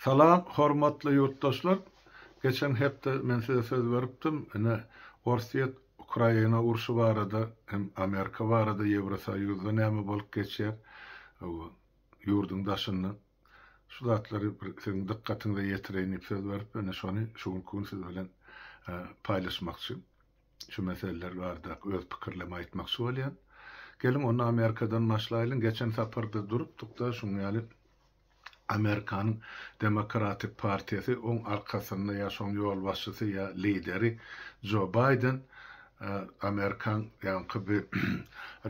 Salam hormatly ýurtdaşlar! Geçen hepde men size söz beripdim, ine, Orsýet, Ukraina urşy barada hem Amerika barada Ýewrosoýuzda näme bolup geçýär bu ýurduň daşynda, şu zatlary bir siziň dykgatyňyza ýetireýin diýip söz beripdim, ine şony şu günki gün siz bilen paýlaşmakçy. Şu meseleler barada öz pikirlemi aýtmakçy bolýan. Geliň onda Amerikadan başlaýlyň. Geçen saparda durupdykda şuň ýaly Amerikanyň Demokratik partiýasy oň arkasynda ýa şoň ýolbaşçysy ýa lideri Jo Baýden Amerikan ýaňky bi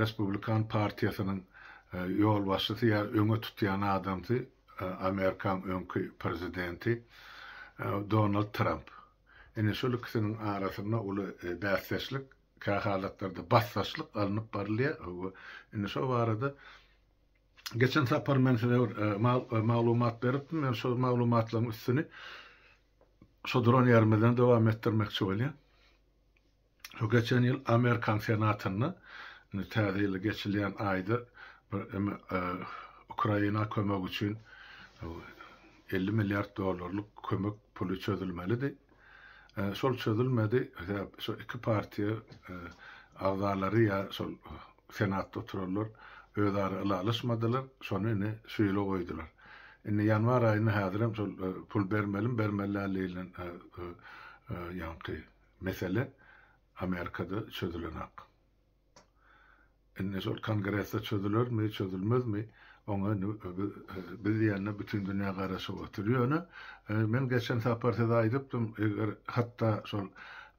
Respublikan partiýasynyň ýolbaşçysy ýa öňe tutýan adamsy Amerikan öňki prezidenti Donald Tramp. Ine, şol ikisiniň arasynda uly bäsdeşlik, kähalatlarda basdaşlyk alnyp barylýar. Hawa, indi şo barada geçen sapar men size bir maglumat beripdim. Men şol maglumatlaryň üstüni şu duran ýerimizden dowam etdirmekçi bolýan. Şu geçen ýyl Amerikan Senatynda, indi Täze ýyl geçilýän aýda bir eme Ukraina kömegi üçin elli milliard dollarlyk kömek puly çözülmelidi. Şol çözülmedi. Sebäp şo iki partiýa agzalary ýa şol Senatda oturanlar özara ylalaşmadylar. Şony indi şu ýyla goýdular. Indi ýanwar aýynda häzirem şol pul bermelimi bermeli däldigini ýaňky Mesele Amerikada çözülenak. Indi şol Kongresde çözülermi, çözülmezmi, oňa indi biz diýende bütin dünýä garaşyp otyr. Ýöne men geçen sapar size aýdypdym, eger hatda şol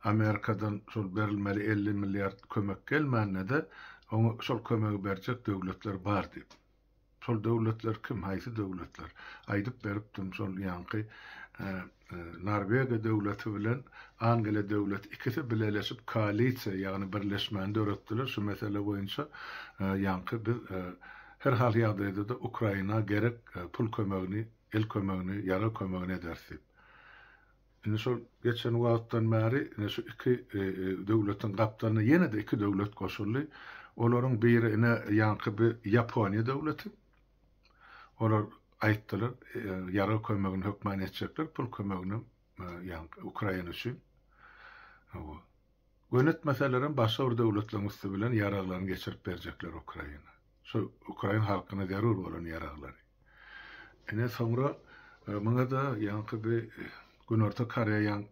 Amerikadan şol berilmeli elli milliard kömek gelmände-de, oňa şol kömegi berjek döwletler bar diýip. Şol döwletler kim, haýsy döwletler? Aýdyp beripdim, şol ýaňky Norwegiýa döwleti bilen Angeliýa döwleti ikisi bileleşip koalisiýa, ýagny birleşmäni döretdiler şu mesele boýunça. Ýaňky biz her hal ýagdaýda-da Ukraina gerek pul kömegini, el kömegini, ýarag kömegini ederis diýip. Indi şol geçen wagtdan bäri ine şu iki döwletiň gapdalyna ýene-de iki döwlet goşuldy. Olaryň biri ine ýaňky bi Ýaponiýa döwleti. Olar aýtdylar, ýarag kömegini hökman etjekler, pul kömegini ýaňky Ukraina üçin. Hawa. Gönetmeselerem başga bir döwletleriň üsti bilen ýaraglaryny geçirip berjekler Ukraina. Şol ukrain halkyna zerur bolan ýaraglary. Ine soňra muňa-da ýaňky bi Günorta Koreýaň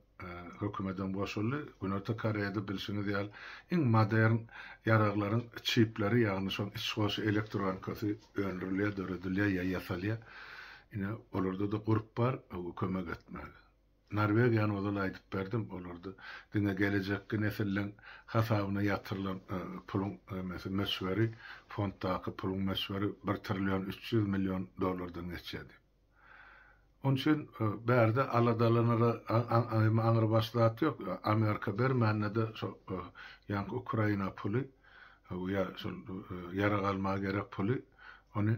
hökümetem goşuldy. Günorta Koreýada bilşiňiz ýaly iň modern ýaraglaryň çipleri, ýagny şoň içgoşy elektronkasy öndürilýär, döredilýär ýa ýasalýar. Ine olarda-da gurp bar kömek etmäge. Norwegiýany ozal aýdyp berdim, olarda diňe gelejekki nesilleň hasabyna ýatyrylan puluň emesi, möçberi, fonddaky puluň möçberi bir trillion üç ýüz million dollardan geçýär diýip. Onuň üçin bärde aladalanara aňrybaş zat ýok. Amerika bermände-de şo ýaňky Ukraina puly ýa şol ýarag almaga gerek puly, ony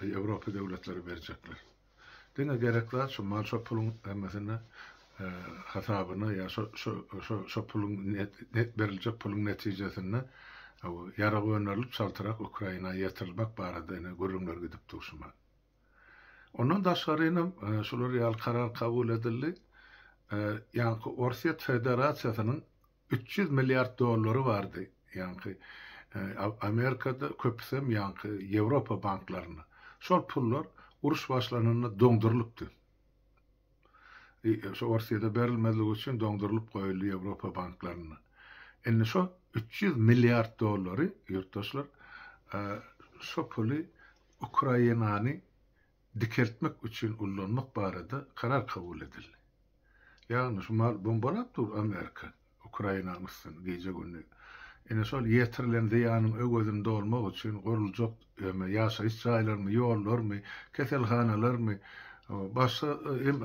Eý Ewropa döwletleri berjekler. Diňe gerek zat şu mal şo puluň hemmesini hasabyna ýa şo şo şo şo puluň net beriljek puluň netijesinde ýarag önerilip çaltyrak Ukraina ýetirilmek barada ine gürrüňler gidip dur şu man. Ondan daşgary inem şular ýaly karar kabul edildi. Ýa-da Orsýet Federasiýasynyň Üç ýüz milliard dollary bardy ýaňky Amerikada köpüsem ýaňky Ýewropa banklarynda. Şol pullar uruş başlananda doňdurylypdy. Şu Orsýede berilmezligi üçin doňdurylyp goýuldy Ýewropa banklarynda. Indi şo üç ýüz milliard dollary ýurtdaşlar şo puly Ukrainany dikeltmek üçin ullanmak barada karar kabul edildi. Ýagny şu mal bombalap dur Amerika Ukrainanyň üstüni gije gündi. Ine şol ýetirilen zyýanyň öwezini dolmak üçin guruljak öme ýaşaýyş jaýlarmy, ýollarmy, keselhanalarmy, başga hem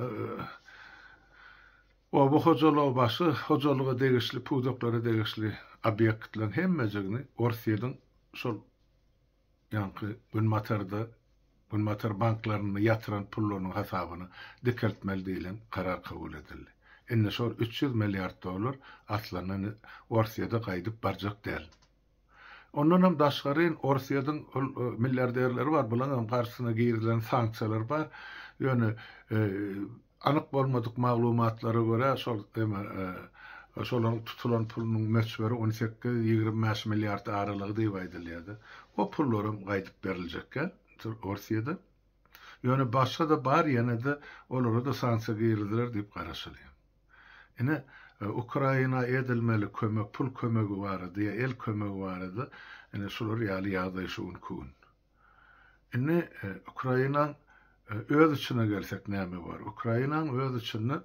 oba hojalygy başga hojalyga degişli pudaklara degişli obýektleriň hemmejigini Orsyýediň şol Ýaňky Günbatarda Günbatar banklarynda ýatyran pullarynyň hasabyny dikeltmeli diýlen karar kabul edildi. Indi şol üç ýüz milliard dollar aslynda Orsýede gaýdyp barjak däl. Ondanam daşgaryn Orsýediň ol milliarderleri bar, bularyňam garşysyna girizilen sanksiýalar bar. Ýöne Anyk bolmadyk maglumatlara görä, şol şolaryň tutulan pulunyň möçberi on sekiz, ýigrimi bäş milliard aralygy diýip aýdylýar-da. O pullar hem gaýdyp beriljekkä Orsýede. Ýöne başga-da bar, ýene-de olara-da sanksiýa giriziler diýip garaşylýar. Ine, Ukraina edilmeli kömek, pul kömegi barada ýa el kömegi barada ine şular ýaly ýagdaý şu günki gün. Indi Ukraina öz içine gelsek näme bar? Ukraina öz içinde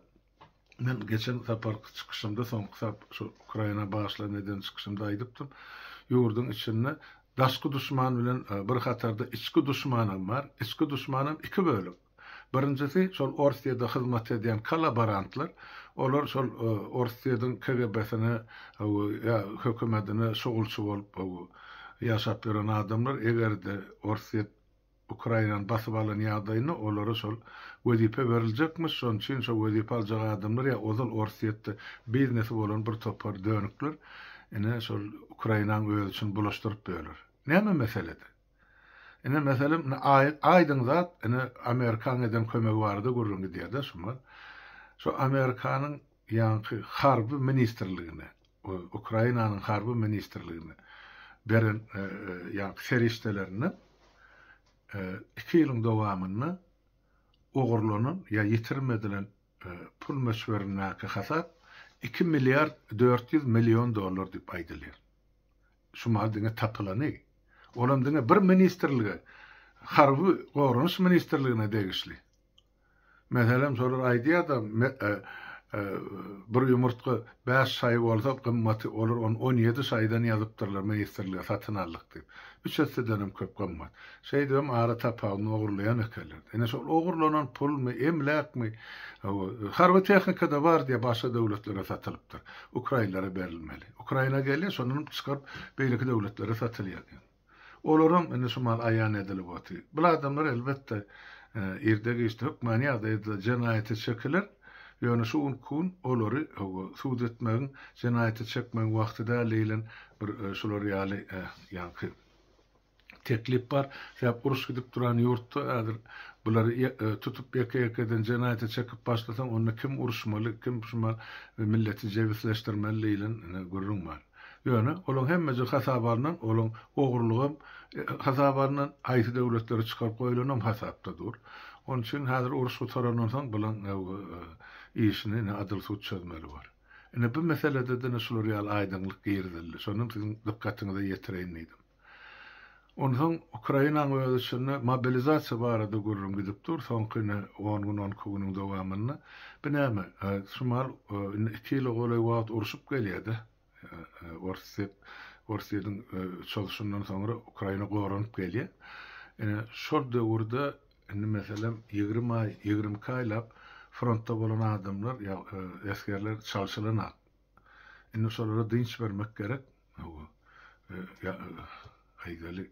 men geçen saparky çykyşymda soňky sap şu Ukraina başlan eden çykyşymda aýdypdym. Ýurduň içinde daşky duşman bilen e, bir hatarda içki duşman hem bar. Içki duşman hem iki bölek. Birinjisi, şol Orsýede hyzmat edýän kollaborantlar. Olar şol Orsýediň KGB-sine ýa hökümetine şugulçy bolup ýaşap ýören adamlar. Eger-de Orsýet Ukrainany basyp alan ýagdaýynda olara şol wezipe beriljekmiş. Şonuň üçin şo wezipe aljak adamlar ýa ozal Orsýetde biznesi bolan bir topar dönükler ine şol Ukrainaň özi üçin bulaşdyryp ýörler. Näme meselede? Ine meselem ine aýdyň zat ine Amerikaň eden kömegi barada gürrüň gidýärde şuma. Şu Amerikanyň ýaňky harby ministrligine Ukrainanyň harby ministrligine beren ýaňky serişdelerinde iki ýylyň dowamynda ogurlanan ýa ýitirim edilen Pul möçberindäki hasap iki milliard dört ýüz million dollar diýip aýdylýar. Şu mal diňe tapylany. Olam diňe bir ministrlige, harby goranyş ministrligine degişli. Meselem, şolar aýdýar-da, bir ýumurtga bäş şaý bolsa, gymmaty, olar ony on ýedi şaýdan ýazypdyrlar ministrlige satyn aldyk diýip. Üç essedenem köp gymmat. Şeýdibem ara tapawuny ogurlaýan ekenler. Ine şol ogurlanan pulmy, emläkmi, hawa, harby tehnika-da bar diýe başga döwletlere satylypdyr. Ukrainlere berilmeli. Ukraina gelýär, şondanam çykaryp beýleki döwletlere satylýar diýen. Olaram indi şu mahaly aýan edilip otyr. Bul adamlar elbetde irde-giçde hökmany ýagdaýda jenaýata çekiler, ýöne şu günki gün olary, hawa, sud etmegiň, jenaýata çekmegiň wagty däl diýlen bir şular ýaly, ýaňky, teklip bar, sebäp uruş gidip duran ýurtda häzir bulary tutup ýeke-ýekeden jenaýata çekip başlasaň onda kim uruşmaly, kim şumal milleti jebisleşdirmeli diýlen gürrüň bar. Ýöne olaň hemmeje hasaba alnan, olaň ogrulygam hasaba alnan, haýsy döwletlere çykaryp goýlanam hasapda dur. Onuň üçin häzir uruş gutarandan soň bulaň işini ine adyl sud çözmeli bor. Ine bu meselede-de ine şular ýaly aýdyňlyk girizildi. Şonam siziň dykgatyňyza ýetireýin diýdim. Onsoň Ukrainanyň öz içinde mobilizasiýa barada gürrüň gidip dur, soňky indi on gün, on iki günüň dowamynda. Bu näme? Şu mahaly indi iki ýyla golaý wagt urşup gelýär-de. Orsýet, Orsýetiň çozuşyndan soňra Ukraina goranyp gelýär. Ine, şol döwürde indi meselem ýigrimi aý, ýigrimi iki aýlap frontda bolan adamlar, esgerler çalşylanok. Indi şolara dynç bermek gerek. Hawa. Aýdaly,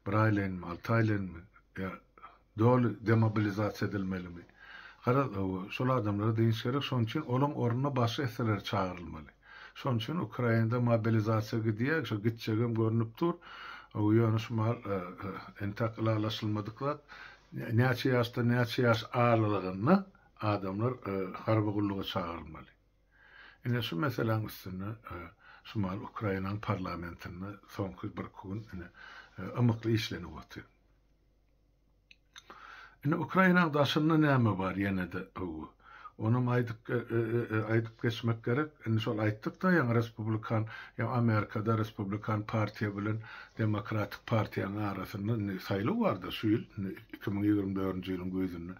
bir aýlaýynmy, alty aýlaýynmy ýa doly demobilizasiýa edilmelimi? Garaz, hawa, şol adamlara dynç gerek, şonuň üçin olaň ornuna başga esgeler çagyrylmaly. Şonuň üçin Ukrainada mobilizasiýa gidýär, şo gitjegem görnüp dur. Hawa, ýöne şu mahaly entäk ylalaşylmadyk zat, näçe ýaşdan näçe ýaş aralygynda adamlar harby gulluga çagyrylmaly. Ine şu meseläň üstünde şu mahaly Ukrainaň parlamentinde soňky birki gün ine ymykly işlenip otyr. Ine Ukrainaň daşynda näme bar ýene-de öw. Onam aýdyp aýdyp geçmek gerek. Indi şol aýtdykda ýaňy respublikan ýa Amerikada respublikan partiýa bilen demokratik partiýanyň arasynda indi saýlaw barda şu ýyl iki müň ýigrimi dördünji ýylyň güýzünde.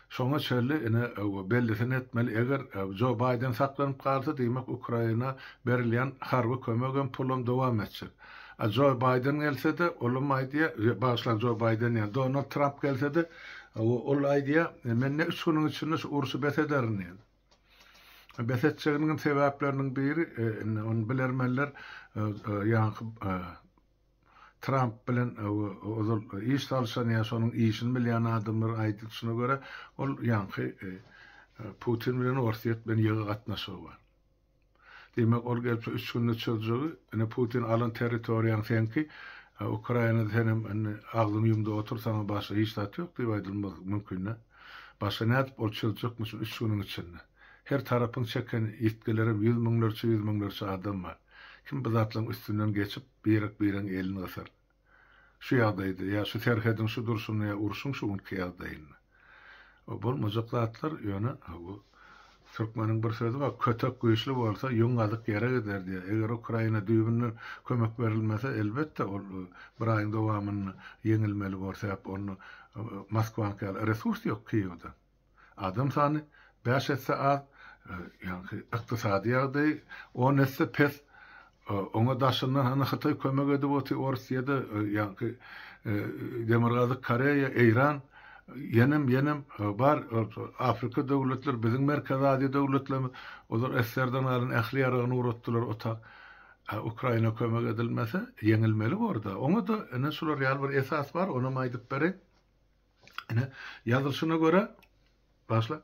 Şoňa çenli ine bellisini etmeli, eger Jo Baýden saklanyp galsa, diýmek Ukraina berilýän harby kömegem, pulam dowam etjek. A Jo Baýden gelsede, olam aýdýa, bagyşlaň Jo Baýden diýen, Donald Tramp gelsede, ol aýdýa, men ne üç günüň içinde şu urşy bes ederin diýen. Bes etjeginiňem sebäpleriniň biri, indi ony bilermenler ýaňky Tramp bilen ozal iş salyşan ýa şonuň işini bilýän adamlar aýdyşyna görä, ol ýaňky Putin bilen Orsýet bilen ýygy gatnaşygy bar. Diýmek, ol gelip şu üç günde çözjegi, ine Putin alan territoriýaň seňki, Ukrainada senem indi agzyňy ýum-da otur, saňa başga hiç zat ýok diýip aýdylmagy mümkin-dä. Başga nädip ol çözjekmişin üç günüň içinde? Her tarapyň çeken ýitgilerem ýüz müňlerçe-ýüz müňlerçe adam bar. Kim bu zatlaryň üstünden geçip, Birek-biregiň elini gysar. Şu ýagdaýda, ýa şu serhediň şu durşunda, ýa urşuň şu günki ýagdaýynda. Bu bolmajak zatlar, ýöne bu türkmeniň bir sözi bar, Kötek güýçli bolsa, ýüň gazyk ýere gider diýýär. Eger Ukraina düýbünden kömek berilmese, elbetde, ol bir aýyň dowamynda ýeňilmeli bor, sebäp onda Moskwanyňky ýaly resurs ýok Kiýewde. Adam sany bäş esse az, ýagny ykdysady ýagdaýy on esse pes. Oňa daşyndan hany Hytaý kömek edip otyr, Ors ýa-da ýagny Demirgazyk Koreýa, Eýran, ýenem ýenem bar Afrika döwletleri, biziň Merkezi Aziýa döwletlerimiz, olar SSR-den galan ähli ýaragyny ugratdylar ota. A Ukraina kömek edilmese, ýeňilmeli bor-da. Oňa-da ine şular ýaly bir esas bar, onam aýdyp bereýin. Ine, ýazylyşyna görä, başla.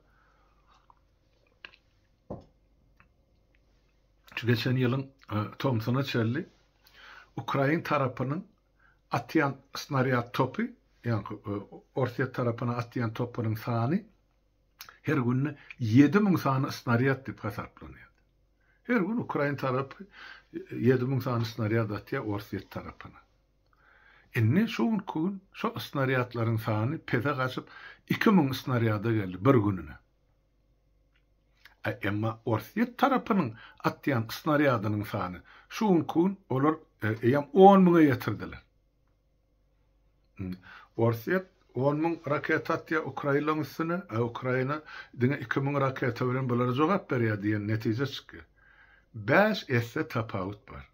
Şu geçen ýylyň e, tomsuna çelli ukrain tarapynyň atýan snarýad topy, ýagny e, Orsýet tarapyna atýan topunyň sany her günde 7000 sany snarýad diýip hasaplanýar. Her gün ukrain tarapy 7000 e, sany snarýad atýar Orsýet tarapyna. Indi şu günki gün şo snarýadlaryň sany pese gaçyp iki müň snarýada geldi bir gününe. Emma Orsýet tarapynyň atýan snarýadynyň sany şu günki gün olar eýýäm on müňe ýetirdiler. Orsýet on müň raketa atýar Ukrailaň üstüne, a Ukraina diňe iki müň raketa bilen bulara jogap berýär diýen netije çykýar. Bäş esse tapawut bar.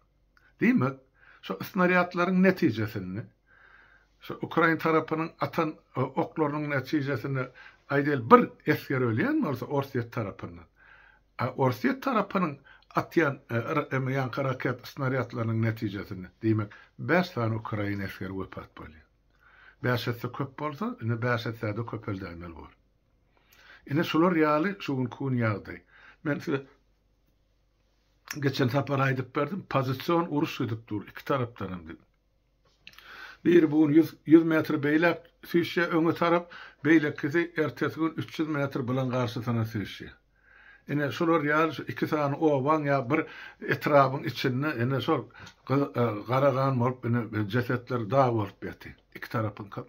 Diýmek, şu snarýadlaryň netijesinde, şu ukrain tarapynyň atan oklarynyň netijesinde, aýdaýly, bir esger ölýän bolsa Orsýet tarapyndan, a Orsýet tarapynyň atýan ýaňky raket snarýadlarynyň netijesinde, diýmek, bäş sany ukrain esgeri wepat bolýar. Bäş esse köp bolsa, indi bäş essä-de köpeldäýmeli bor. Ine, şular ýaly şu günki gün ýagdaý. Men size geçen sapar aýdyp berdim, pozision uruş gidip dur iki tarapdanam diýip. Biri bu gün 100, 100 metr beýläk süýşýär öňe tarap, beýlekisi ertesi gün 300 metr bulan garşysyna süýşýär. Ine şular ýaly şu iki sany obaň ýa bir etrabyň içinde ine şol gara gan bolup ine jesetler dag bolup ýatyr. Iki tarapyňkam.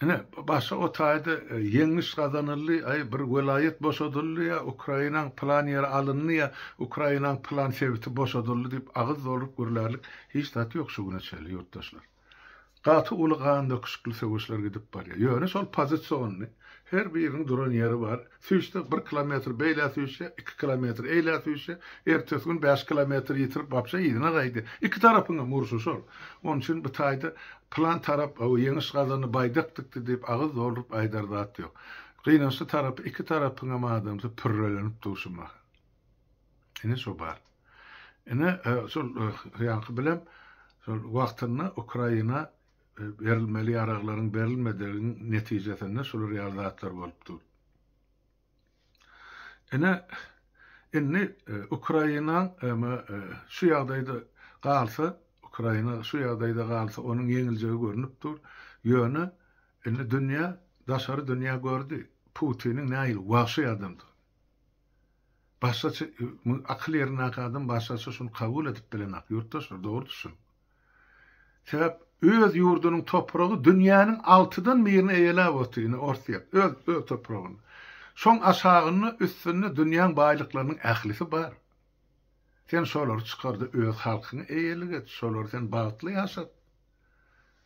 Ine, başy o taýda ýeňiş gazanyldy, aý, bir welaýat boşadyldy ýa Ukrainaň pylan ýeri alyndy ýa Ukrainaň pylan sebiti boşadyldy diýip agyz dolduryp gürlärlik hiç zat ýok şu güne çenli, ýurtdaşlar. Gaty uly gandöküşikli söweşler gidip barýar. Ýöne şol pozisiony, her biriniň duran ýeri bar. Süýşse, bir kilometr beýlä süýşse, iki kilometr eýlä süýşse, ertesi gün bäş kilometr ýitirip, wapşe yzyna gaýdy. Iki tarapyň hem urşy şol. Onuň üçin bu taýda pylan tarap o ýeňiş gazandy, baýdak dikdi diýip agyz dolduryp aýdar zat ýok. Gynançly tarapy iki tarapyň hem adamsy pürrelenip dur şu mahal. Ine şo bar. Ine şol ýaňky bilem şol wagtynda Ukraina Berilmeli ýaraglaryň berilmediginiň netijesinde şular ýaly zatlar bolup dur. Ine, indi Ukraina şu ýagdaýda galsa, Ukraina şu ýagdaýda galsa, onuň ýeňiljegi görnüp dur. Ýöne indi dünýä, daşary dünýä gördi, Putiniň nähili wagşy adamdygyny. Başgaça, akyl ýerindäki adam başgaça şuny kabul edip bilenak, ýurtdaşlar, dogry düşüniň. Sebäp öz ýurdunyň topragy dünýäniň altydan birini eýeläp otyr, ine Orsýet, öz öz topragyny. Şoň aşagynda, üstünde dünýäň baýlyklarynyň ählisi bar. Sen şolary çykarda öz halkyňy eýelik et, şolary sen bagtly ýaşat.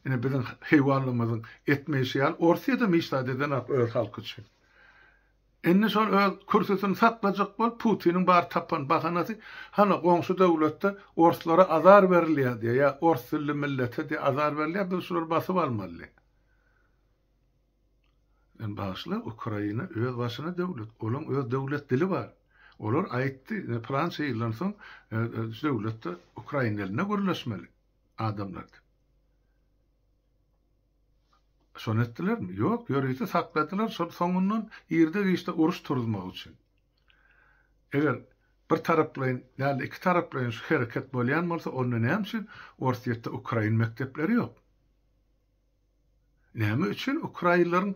Ine biziň heýwanlarymyzyň etmeýşi ýaly Orsýedem hiç zat edenok öz halky üçin. Indi şol öz kürsüsini saklajak bolup Putiniň bar tapan bahanasy hany goňşy döwletde orslara azar berilýär diýýär ýa ors dilli millete diýýär azar berilýär biz şulary basyp almaly. Sen bagyşla Ukraina öz başyna döwlet olaň öz döwlet dili bar. Olar aýtdy pylança ýyldan soň şu döwletde Ukraina dilinde gürleşmeli adamlar diýip. Şony etdilermi? Ýok, ýörite sakladylar, şol soňundan irde-giçde uruş turuzmak üçin. Eger bir taraplaýyn däl-de iki taraplaýyn şu hereket bolýan bolsa, onda näme üçin Orsýetde ukrain mekdepleri ýok? Näme üçin ukrainleriň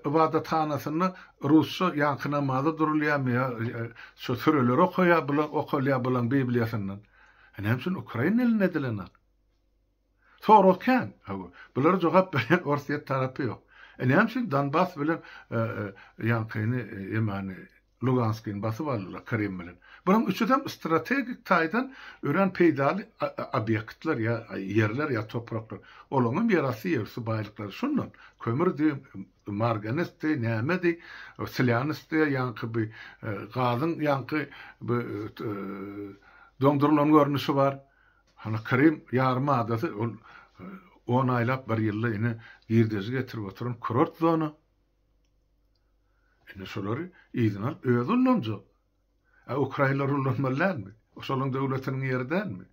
ybadathanasynda rusça ýaňky namaza durulýarmy ýa şu süreleri okaýar, bular okalýar bulaň bibliýasyndan? Näme üçin ukrain dilinde edilen ak? Sorag kän, hawa. Bulara jogap berýän Orsýet tarapy ýok. E näme üçin Donbas bilen ýankyny, emany, Luganskyny basyp aldylar Krym bilen? Bularyň üçüsem strategik taýdan örän peýdaly obýektler ýa ýerler ýa topraklar. Olaňam ýerasty ýerüsti baýlyklary şundan. Kömürdi, marganesdi, nämedi, slýanesdi, ýaňky bi gazyň ýaňky bi doňdurylan görnüşi bar. Hany Krym ýarym adasy ol on aýlap bir ýylda ine girdeji getirip oturan kurort zona. Indi şolary yzyna alyp özi ullanjak. A ukrainler ullanmaly dälmi? Şolaryň döwletiniň ýeri dälmi?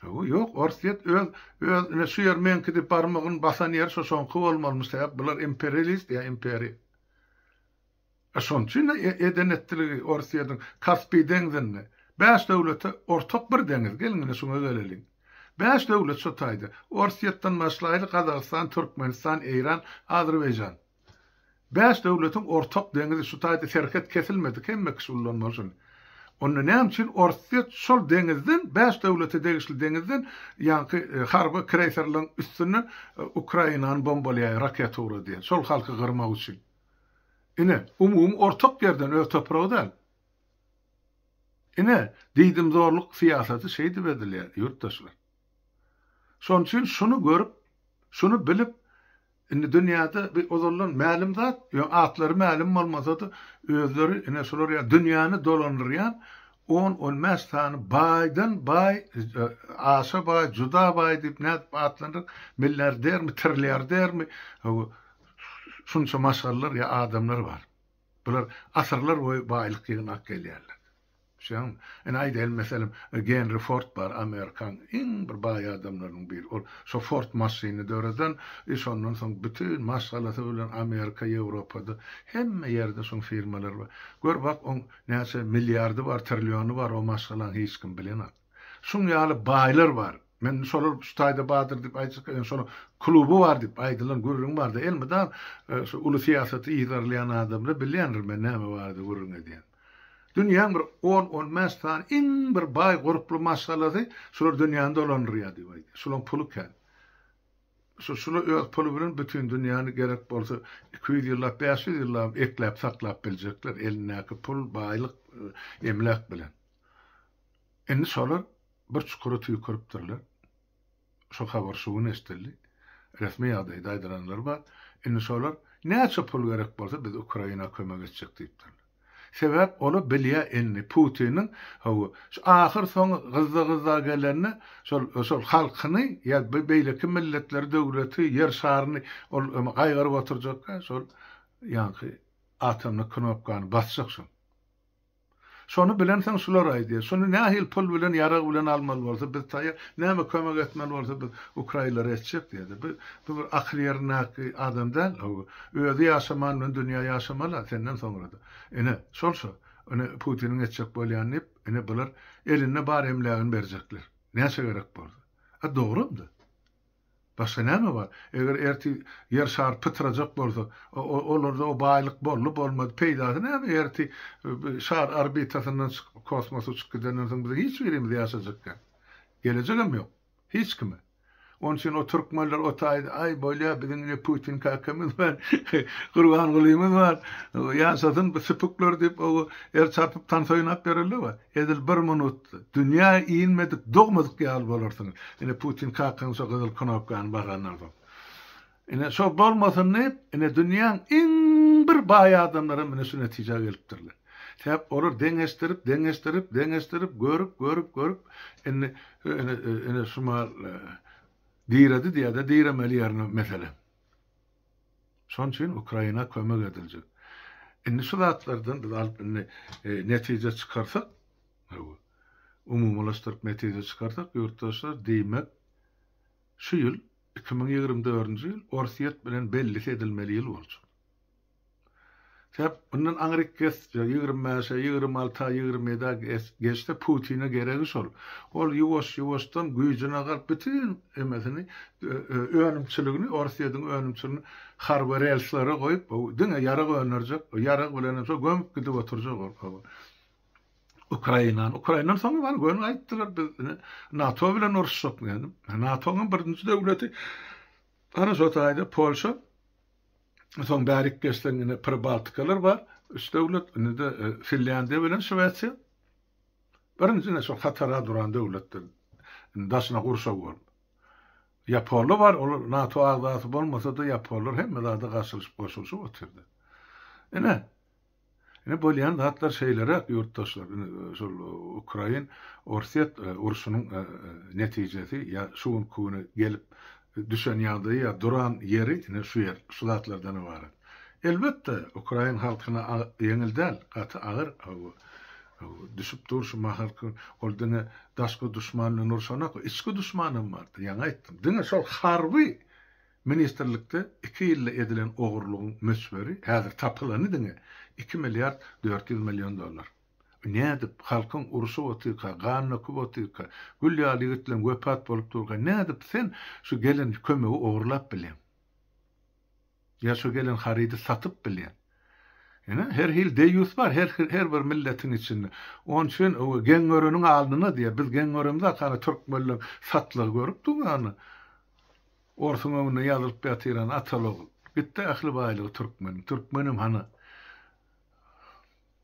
Hawa ýok Orsýet öz öz ine şu ýer meňki diýip barmagyny basan ýeri şu soňky bolmalymy sebäp bular imperialist ýa imperiýa. E şonuň üçin-de eden etdiligi Orsýetiň Kaspiý deňzinde, bäş döwlete ortak bir deňiz, geliň ine şuňa geleliň. Bäş döwlet şo taýda, Orsýetden başlaýly Gazagystan, Türkmenistan, Eýran, Azerbaýjan. Bäş döwletiň ortak deňizi şu taýda serhet kesilmedik hemme kişi ullanmaly şuny. Onda näme üçin Orsýet şol deňizden, bäş döwlete degişli deňizden ýaňky harby kreýserleriň üstünden Ukrainany bombalaýar, raketa ugradýar, şol halky gyrmak üçin. Ine, umumy ortak ýerden öz topragy däl. Ine, diýdimzorluk syýasaty şeýdip edilýär, ýurtdaşlar. Şonuň üçin şuny görüp, şuny bilip, indi dünýäde bi ozaldan mälim zat, ýöne atlary mälim bolmasa-da, özleri ine şular ýaly dünýäni dolandyrýan on-on bäş sany baýdan baý, aşa baý, juda baý diýip nädip atlandyryp, milliardermi, trilliardermi, Şunça maşgalalar ýa adamlar bar. Bular asyrlar boýy baýlyk ýygnap gelýärler. Düşýäňmi? Ine, aýdaýyň, meselem, Genri Ford bar, amerikan iň bir baý adamlarynyň biri. Ol şo Ford maşynyny döreden, e, şondan soň bütin maşgalasy bilen Amerika, Ýewropada, hemme ýerde şoň firmalary bar. Gör, bak, oň näçe milliardy bar, trilliony bar o maşgalaň, hiç kim bilenok. Şuň ýaly baýlar bar. Men şolar şu taýda bardyr diýip aýtjak gelýän şonuň kluby bar diýip aýdylan gürrüň bardy. Elmydam şu uly syýasaty yzarlaýan adamlar bilýändir men näme barada gürrüň edýän. Dünýäň bir on, on bäş sany iň bir baý gurply maşgalasy şular dünýäni dolandyrýar diýip aýdýar. Şulaň puly kän. Şu şular öz puly bilen bütin dünýäni gerek bolsa iki ýüz ýyllap, bäş ýüz ýyllabam ekläp saklap biljekler elindäki pul, baýlyk, emläk bilen. Indi şolar bir çukura tüýküripdirler. Şo habar şu gün eşidildi. Resmi ýagdaýda aýdylanlary bar. Indi şolar näçe pul gerek bolsa biz Ukraina kömek etjek diýipdirler. Sebäp ola bilýä indi Putiniň haw şu ahyr soň gyzda gyzda gelende şol şol halkyny ýa beýleki milletleri döwleti ýer şaryny ol gaýgyryp oturjak şol ýaňky atomny knopkany basjak şoň. Şony bilensoň şular aýdýar, şuny nähili pul bilen, ýarag bilen almaly bolsa biz taýýar, näme kömek etmeli bolsa biz ukraýlara etjek diýýärdi. Bu bu bir akyl ýerindäki adam däl, o özi ýaşaman bilen dünýä ýaşamala senden soňra-da. Ine, şol şu. Ine Putiniň etjek bolýany diýip, ine bular elinde bar emlägini berjekler. Näçe gerek bolsa. A dogrum-da. Başga näme bar? Eger ertir ýer şary pytrajak bolsa, olarda o baýlyk boldy, bolmady, peýdasy näme? Ertir şar orbitasyndan çykyp, kosmosa uçup gidenden soň biziň hiç birimiz ýaşajak däl. Gelejegem ýok. Hiç kime. Onuň üçin o türkmenler o taýda, aý, bolýar, biziň ine Putin kakamyz bar, Gurban Gulymyz bar, ýaşasyn bu süpükler diýip, o el çarpyp, tans oýnap ýörerler we. Edil bir minut dünýä inmedik, dogmadyk ýaly bolarsyňyz. Ine, Putin kakaň şo gyzyl knopkany basandan soň. Ine, şo bolmasyn diýip, ine, dünýäň iň bir baý adamlary hem ine şu netijä gelipdirler. Sebäp olar deňeşdirip, deňeşdirip, deňeşdirip, görüp, görüp, görüp, indi, ine, ine, şu mal diredi diýýär-de, diremeli ýerine mesele. Şonuň üçin Ukraina kömek ediljek. Indi şu zatlardan biz alyp indi netije çykarsak, umumylaşdyryp netije çykarsak, ýurtdaşlar diýmek şu ýyl iki müň ýigrimi dördünji ýyl Orsýet bilen bellisi edilmeli ýyl boljak. Sebäp mundan aňryk geçse, ýigrimi bäşe, ýigrimi alta, ýigrimi ýedä geçse, Putine geregi şol. Ol ýuwaş-ýuwaşdan güýjüne galyp, bütin emesini, önümçiligini, Orsýetiň önümçiligini harby relslere goýup, diňe ýarag öndürjek, ýarag bilenem şo gömüp gidip oturjak ol. Ukrainany. Ukrainany soň bar, göni aýtdylar, biz NATO bilen uruşjak diýip. NATO-nyň birinji döwleti, gara şo taýda Polşa, soň bärik geçseň indi Pribaltikalar bar, üç döwlet, indi-de e, Finlýandiýa bilen Şwesiýa. Birinjine şol hatara duran döwletler daşyna gurşaw bolup. Ýaponlar bar, olar NATO agzasy bolmasa-da ýaponlar hemme zada garşylyşyp goşulyşyp otyrdy. Ine, Ine bolýan zatlar şeýleräk ýurtdaşlar. Ine şol Ukrain Orsýet urşunyň netijesi ýa şu günki güne gelip düşen ýagdaýy ýa duran ýeri ine şu ýer şu zatlardan ybarat. Elbetde Ukrain halkyna ýeňil däl gaty agyr düşüp dur şu mahalky ol diňe daşky duşman bilen urşanok içki duşmanam bardy ýaňy aýtdym diňe şol harby Ministrlikde iki ýylda edilen ogurlygyň möçberi häzir tapylany diňe iki milliard dört ýüz million dollar. Nädip, halkyň urşup otyrka, gan döküp otyrka, gül ýaly ýigitleriň wepat bolup durka nädip sen şu gelen kömegi ogurlap bileň? Ýa şu gelen harydy satyp bileň? Ine, her hili deýýus bar her bir milletiň içinde. Ony üçin geň göreniň alnyna diýýär. Biz geň göremizok, ana türkmenleň satlygy görüp duň, ana. Orsuň öňünde ýazylyp ýatyran ataly-ogul. Gitdi ähli baýlygy türkmeniň. Türkmenem hany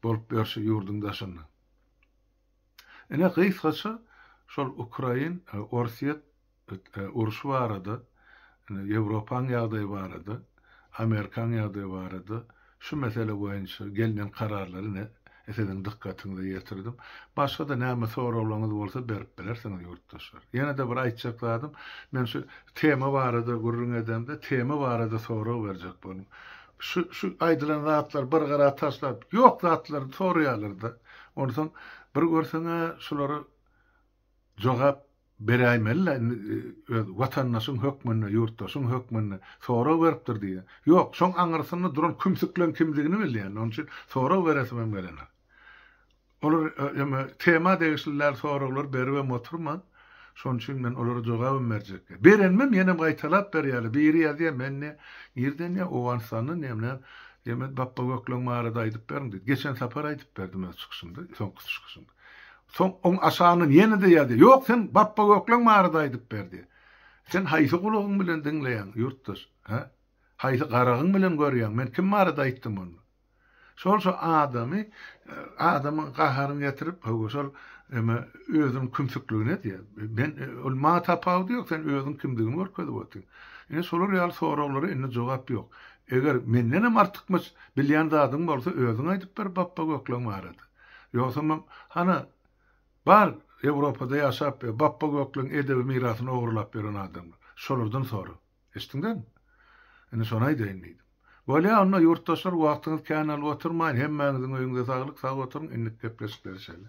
bolup ýör şu ýurduň daşynda. Ine, gysgaça şol ukrain, orsýet urşy barada, ýewropaň ýagdaýy barada, amerikaň ýagdaýy barada, Şu mesele boýunça gelnen kararlary ne siziň dykgatyňyza ýetirdim. Başga-da näme soraglaryňyz bolsa berip bilersiňiz, ýurtdaşlar. Ýene-de bir aýtjak zadym, men şu tema barada gürrüň edemde, tema barada sorag berjek boldum. Şu, şu aýdylan zatlar bir gyra taşlap, ýok zatlary soraýarlar-da. Onsoň bir görseň-ä, şulary jogap beräýmeli-le indi öz watandaşyň hökmünde, ýurtdaşyň hökmünde sorag beripdir diýýär. Ýok, şoň aňyrsynda duran kümsükleň kimdigini bilýän, onuň üçin sorag beresimem gelenok. Olar eme tema degişli däl soraglar beribem oturman, şonuň üçin men olara jogabam berjek däl. Berenimem ýenem gaýtalap berýärler. Biri ýazýar, men ne, nirden ýa, Owganystandan ýa, ne, ýa men Bapbagökleň barada aýdyp beriň diýdi. Geçen sapar aýdyp berdim öz çykyşymda, soňky çykyşymda. Soň oň aşagyndan ýene-de ýazdy. Ýok, sen Bapba Gökleň barada aýdyp berdi. Sen haýsy gulagyň bilen diňleýäň, ýurtdaş? Hä? Haýsy garagyň bilen görýäň? Men kim barada aýtdym onda? Şol şu adamy, adamyň gaharyny getirip, hawa, şol eme özüniň kümsükligini edýär. Men, ol maňa tapawudy ýok, sen özüň kimdigini görkezip otyň. Ine, şolar ýaly soraglara indi jogap ýok. Eger mendenem artykmaç bilýän zadyň bolsa, özüň aýdyp ber Bapba Gökleň barada. Ýogsamam, hana, bar Ewropada ýaşap we bapba gökleň edebi mirasyny ogrulap ýören adamlar, şolardan sora. Eşitdiňizmi? Indi şony aýdaýyn diýdim. Bolýa, onda, ýurtdaşlar, wagtyňyzy kän alyp oturmaýyn, hemmäňiziň öýüňize saglyk, sag oturyň, indik gepleşikleri şeýle.